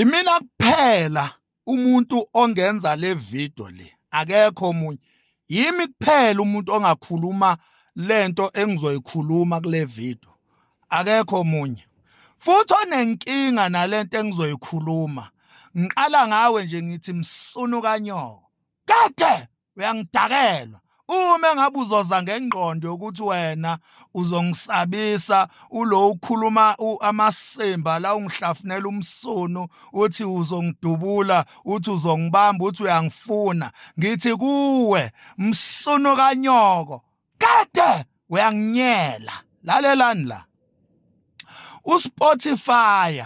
Imina kuphela umuntu ongenza le video le akekho omunye yimi kuphela umuntu ongakhuluma lento engizoyikhuluma kule video akekho omunye futhi onenkinga nalento engizoyikhuluma ngiqala ngawe nje ngithi msunu kanyoko Keke uyangidakelwa uma ngabe uzoza ngengqondo yokuthi wena uzongisabisa ulo ukhuluma amasimba la ungihlafunela umsunu uthi uzongidubula uthi uzongibamba uthi uyangifuna ngithi kuwe msunu kanyoko kade uyanginyela lalelani la uSpotify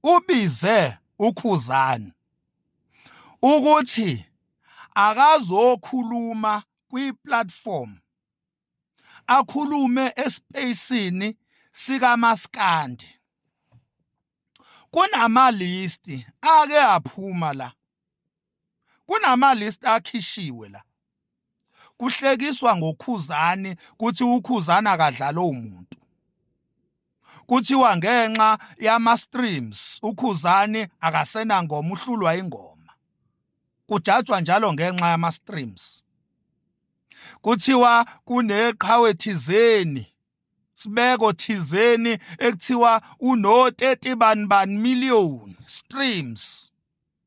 ubize ukhuzani ukuthi akazokhuluma kwi-platform akhulume espacini sikamaskandi kunamalisti ake aphuma la kunamalisti akhishiwe la kuhlekiswa ngokhuzani kuthi ukhuzana akadlala umuntu kuthiwa ngenxa yama streams ukhuzani akasena ngoma uhlulwa ingoma kujatshwa njalo ngenxa yama streams kuthiwa kuneqhawe thizeni sibeko thizeni ekuthiwa uno 30 bani bani million streams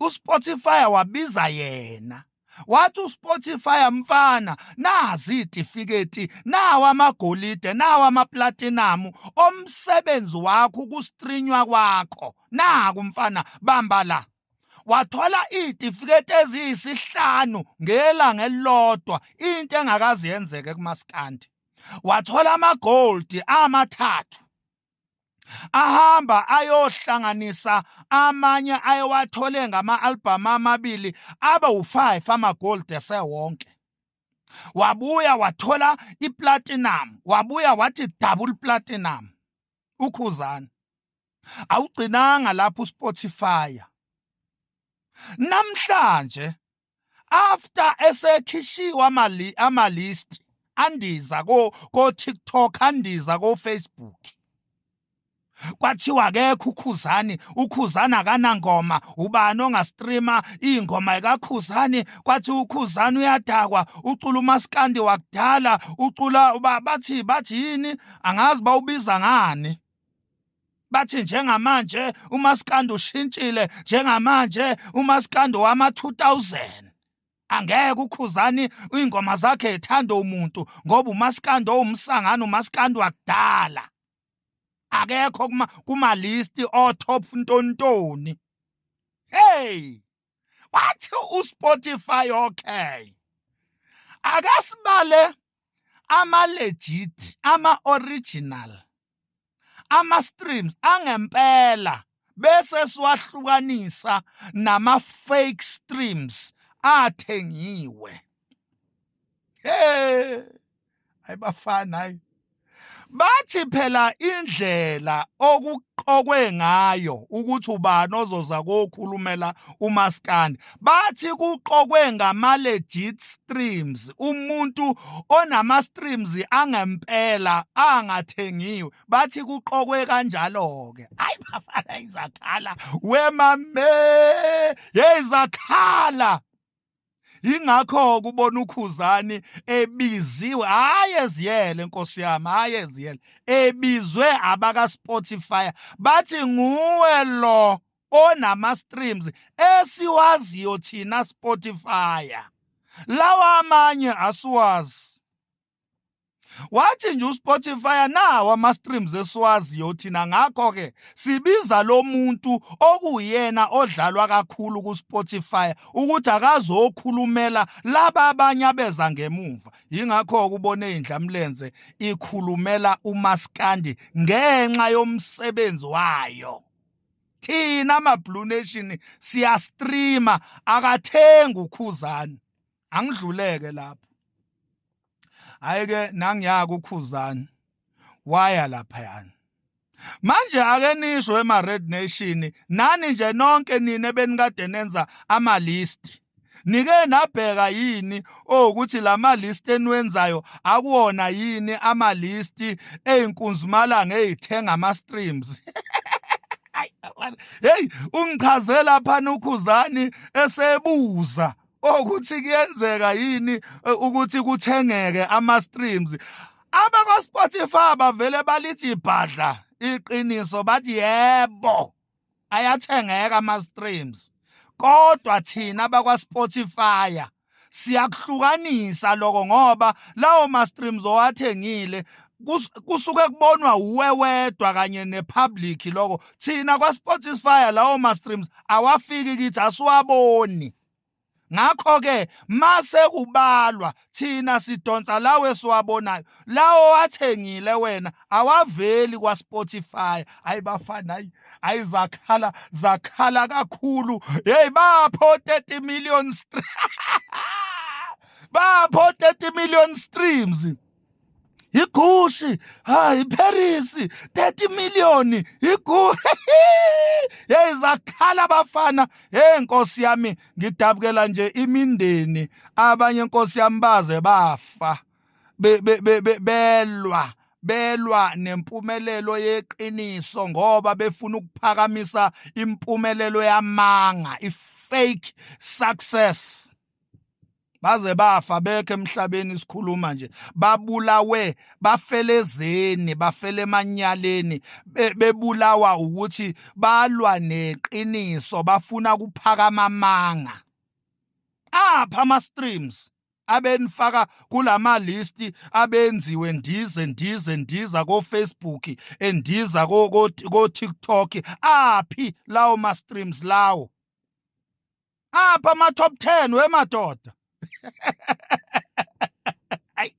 uSpotify wabiza yena wathi uSpotify mfana nazi itifiketi nawa amagolide nawa amaplatinum omsebenzi wakho ukustrinywa kwakho naku mfana bamba la wathola itifiketi eziyisihlanu ngelanga elilodwa into engakazi yenzeke kumaskandi wathola amagold amathathu ahamba ayohlanganisa amanye ayewathole ngama-albhamu amabili abe wu-five ama-gold esewonke wabuya wathola iplatinum wabuya wathi double platinum ukhuzana awugcinanga lapho uspotify namhlanje after esekhishiwa amali ama list andiza ko ko TikTok andiza ko Facebook kwathiwa akekho ukhuzani ukhuzani akanangoma ubani ongastreama ingoma ekakhuzani kwathi ukhuzani uyadakwa ucula umaskandi wakudala ucula bathi bathi yini angazi bawubiza ngani bathi njengamanje umaskandi ushintshile njengamanje umaskandi wama 2000 angeke ukhuzani ingoma zakhe ithanda umuntu ngoba umaskandi owumsangano umaskandi wakudala akekho kuma kuma list o top ntontoni hey wathi uSpotify okay akasibale ama legit ama original ama streams angempela bese siwahlukanisa nama fake streams athengiwe hey ayibafana hayi bathi phela indlela okuqokwe ngayo ukuthi ubani ozoza kokhulumela umaskandi bathi kuqokwe ngama legit streams umuntu onama streams angempela angathengiwe bathi kuqokwe kanjalo ke ayi bafana izakhala wemame yezakhala ingakho kubona ukhuzani ebiziwe hayi eziyele nkosi yami hayi eziyele ebizwe abaka Spotify bathi nguwe lo onama streams esiwaziyo thina Spotify lawa amanye asiwazi wathi nje uSpotify nawo ama streams esiwaziyo thina ngakho ke sibiza lo muntu okuyena odlalwa kakhulu ku Spotify ukuthi akazokhulumela laba abanye abeza ngemuva yingakho ukubone indlamlenze ikhulumela uMaskandi ngenxa yomsebenzi wayo thina ama Blue Nation siya streamer akathengi ukhuzani angidluleke lapho hayi ke nangiyaka ukhuzani waya lapha yani manje ake nisho ema red nation nani nje nonke nina benikade nenza ama list nike nabheka yini ukuthi lama list eniwenzayo akuwona yini ama list ezinkunzimalanga ezithenga ama streams hey ungichazela phana ukhuzani esebuza ukuthi kuyenzeka yini e, ukuthi kuthengeke ama streams abakwa Spotify bavele balithi ibhadla iqiniso bathi yebo ayathengeka ama streams kodwa thina bakwa Spotify siyakuhlukanisa lokho ngoba lawo ma streams owathengile kusuke kubonwa uwe wedwa kanye nepublic lokho thina kwaSpotify lawo ma streams awafiki kithi asiwaboni ngakho ke mase kubalwa thina sidonsa lawe siwabonayo lawo wathengile wena awaveli kwa Spotify ayibafana ayi ayizakhala zakhala kakhulu hey bapho 30 million streams bapho 30 million streams yigushi ha iparis 30 million yigu hey zakhala bafana hey nkosi yami ngidabukela nje imindeni abanye nkosi yami baze bafa belwa belwa nempumelelo yeqiniso ngoba befuna ukuphakamisa impumelelo yamanga ifake success baze bafa bekhe emhlabeni isikhuluma nje babulawe bafelezeni bafele emanyaleni bebulawa ukuthi balwa neqiniso bafuna kuphakama amanga apha ama streams abenifaka kulama list abenziwe ndize ndize ndiza ko Facebook endiza ko ko TikTok aphi lawo ma streams lawo apha ama-top ten wemadoda hayi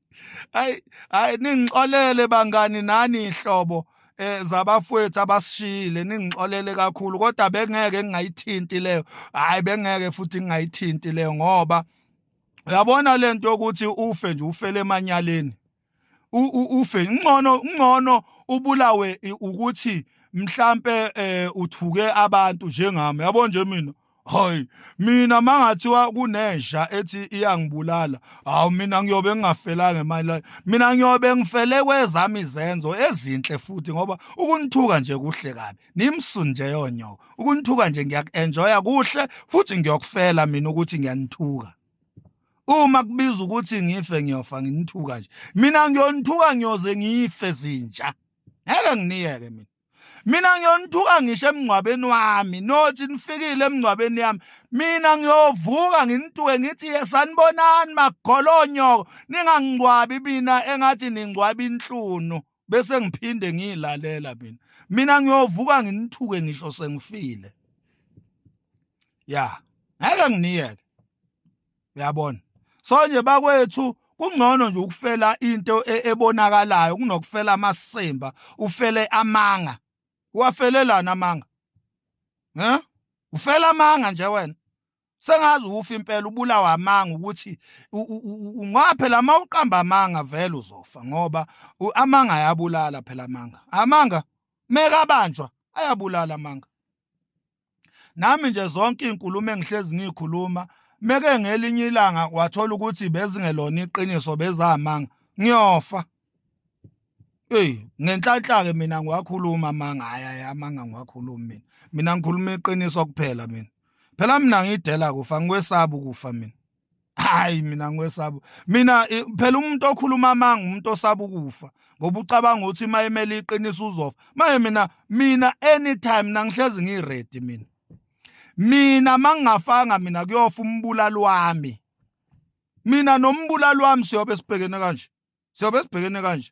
hayi hayi ningixolele bangani nani ihlobo eh zabafowethu abasishiyile ningixolele kakhulu kodwa bengeke ngingayithinti leyo hayi bengeke futhi ngingayithinti leyo ngoba uyabona lento yokuthi ufe nje ufele emanyaleni ufe ngcono ngcono ubulawe ukuthi mhlambe eh, uthuke abantu njengami yabo nje mina hayi mina mangathiwa kunesha ethi iyangibulala hawu mina ngiyobe ngingafela ngemali la mina ngiyobe ngifele kwezami izenzo ezinhle futhi ngoba ukunithuka nje kuhle kabi nimsun nje yonyo ukunithuka nje ngiyakuenjoya kuhle futhi ngiyokufela mina ukuthi ngiyanithuka uma kubiza ukuthi ngife ngiyofa nginithuka nje mina ngiyonithuka ngiyoze ngife zinja ngeke nginiyeke mina mina ngiyonithuka ngisho emngcwabeni wami nothi nifikile emngcwabeni yami mina ngiyovuka nginituke ngithi yesanibonani magolonyoko ningangcwabi mina engathi ningcwabi inhlunu bese ngiphinde ngiyilalela mina mina ngiyovuka nginithuke ngisho sengifile ya ngeke nginiyeke uyabona so nje bakwethu kungcono nje ukufela into e, ebonakalayo kunokufela amasimba ufele amanga uwafelelana amanga he ufela amanga nje wena sengazi uwufa impela ubulawa amanga ukuthi ngoba phela uma uqamba amanga vele uzofa ngoba amanga ayabulala phela amanga amanga mekabanjwa ayabulala amanga nami nje zonke iy'nkulumo engihlezi ngiy'khuluma meke ngelinye ilanga wathola ukuthi bezingelona iqiniso bezamanga ngiyofa Hey ngenhlanhla ke mina ngiwakhuluma amanga haya amanga ngiwakhuluma mina mina ngikhuluma iqiniso kuphela mina phela mina ngidela kufa ngikwesaba ukufa mina hayi mina ngikwesaba mina phela umuntu okhuluma amanga umuntu osaba ukufa ngoba ucabanga ukuthi uma emele iqiniso uzofa manje mina mina anytime nangihlezi ngiready mina mina mangingafanga mina kuyofa umbulali wami mina nombulali wami siyobe sibhekene kanje siyobe sibhekene kanje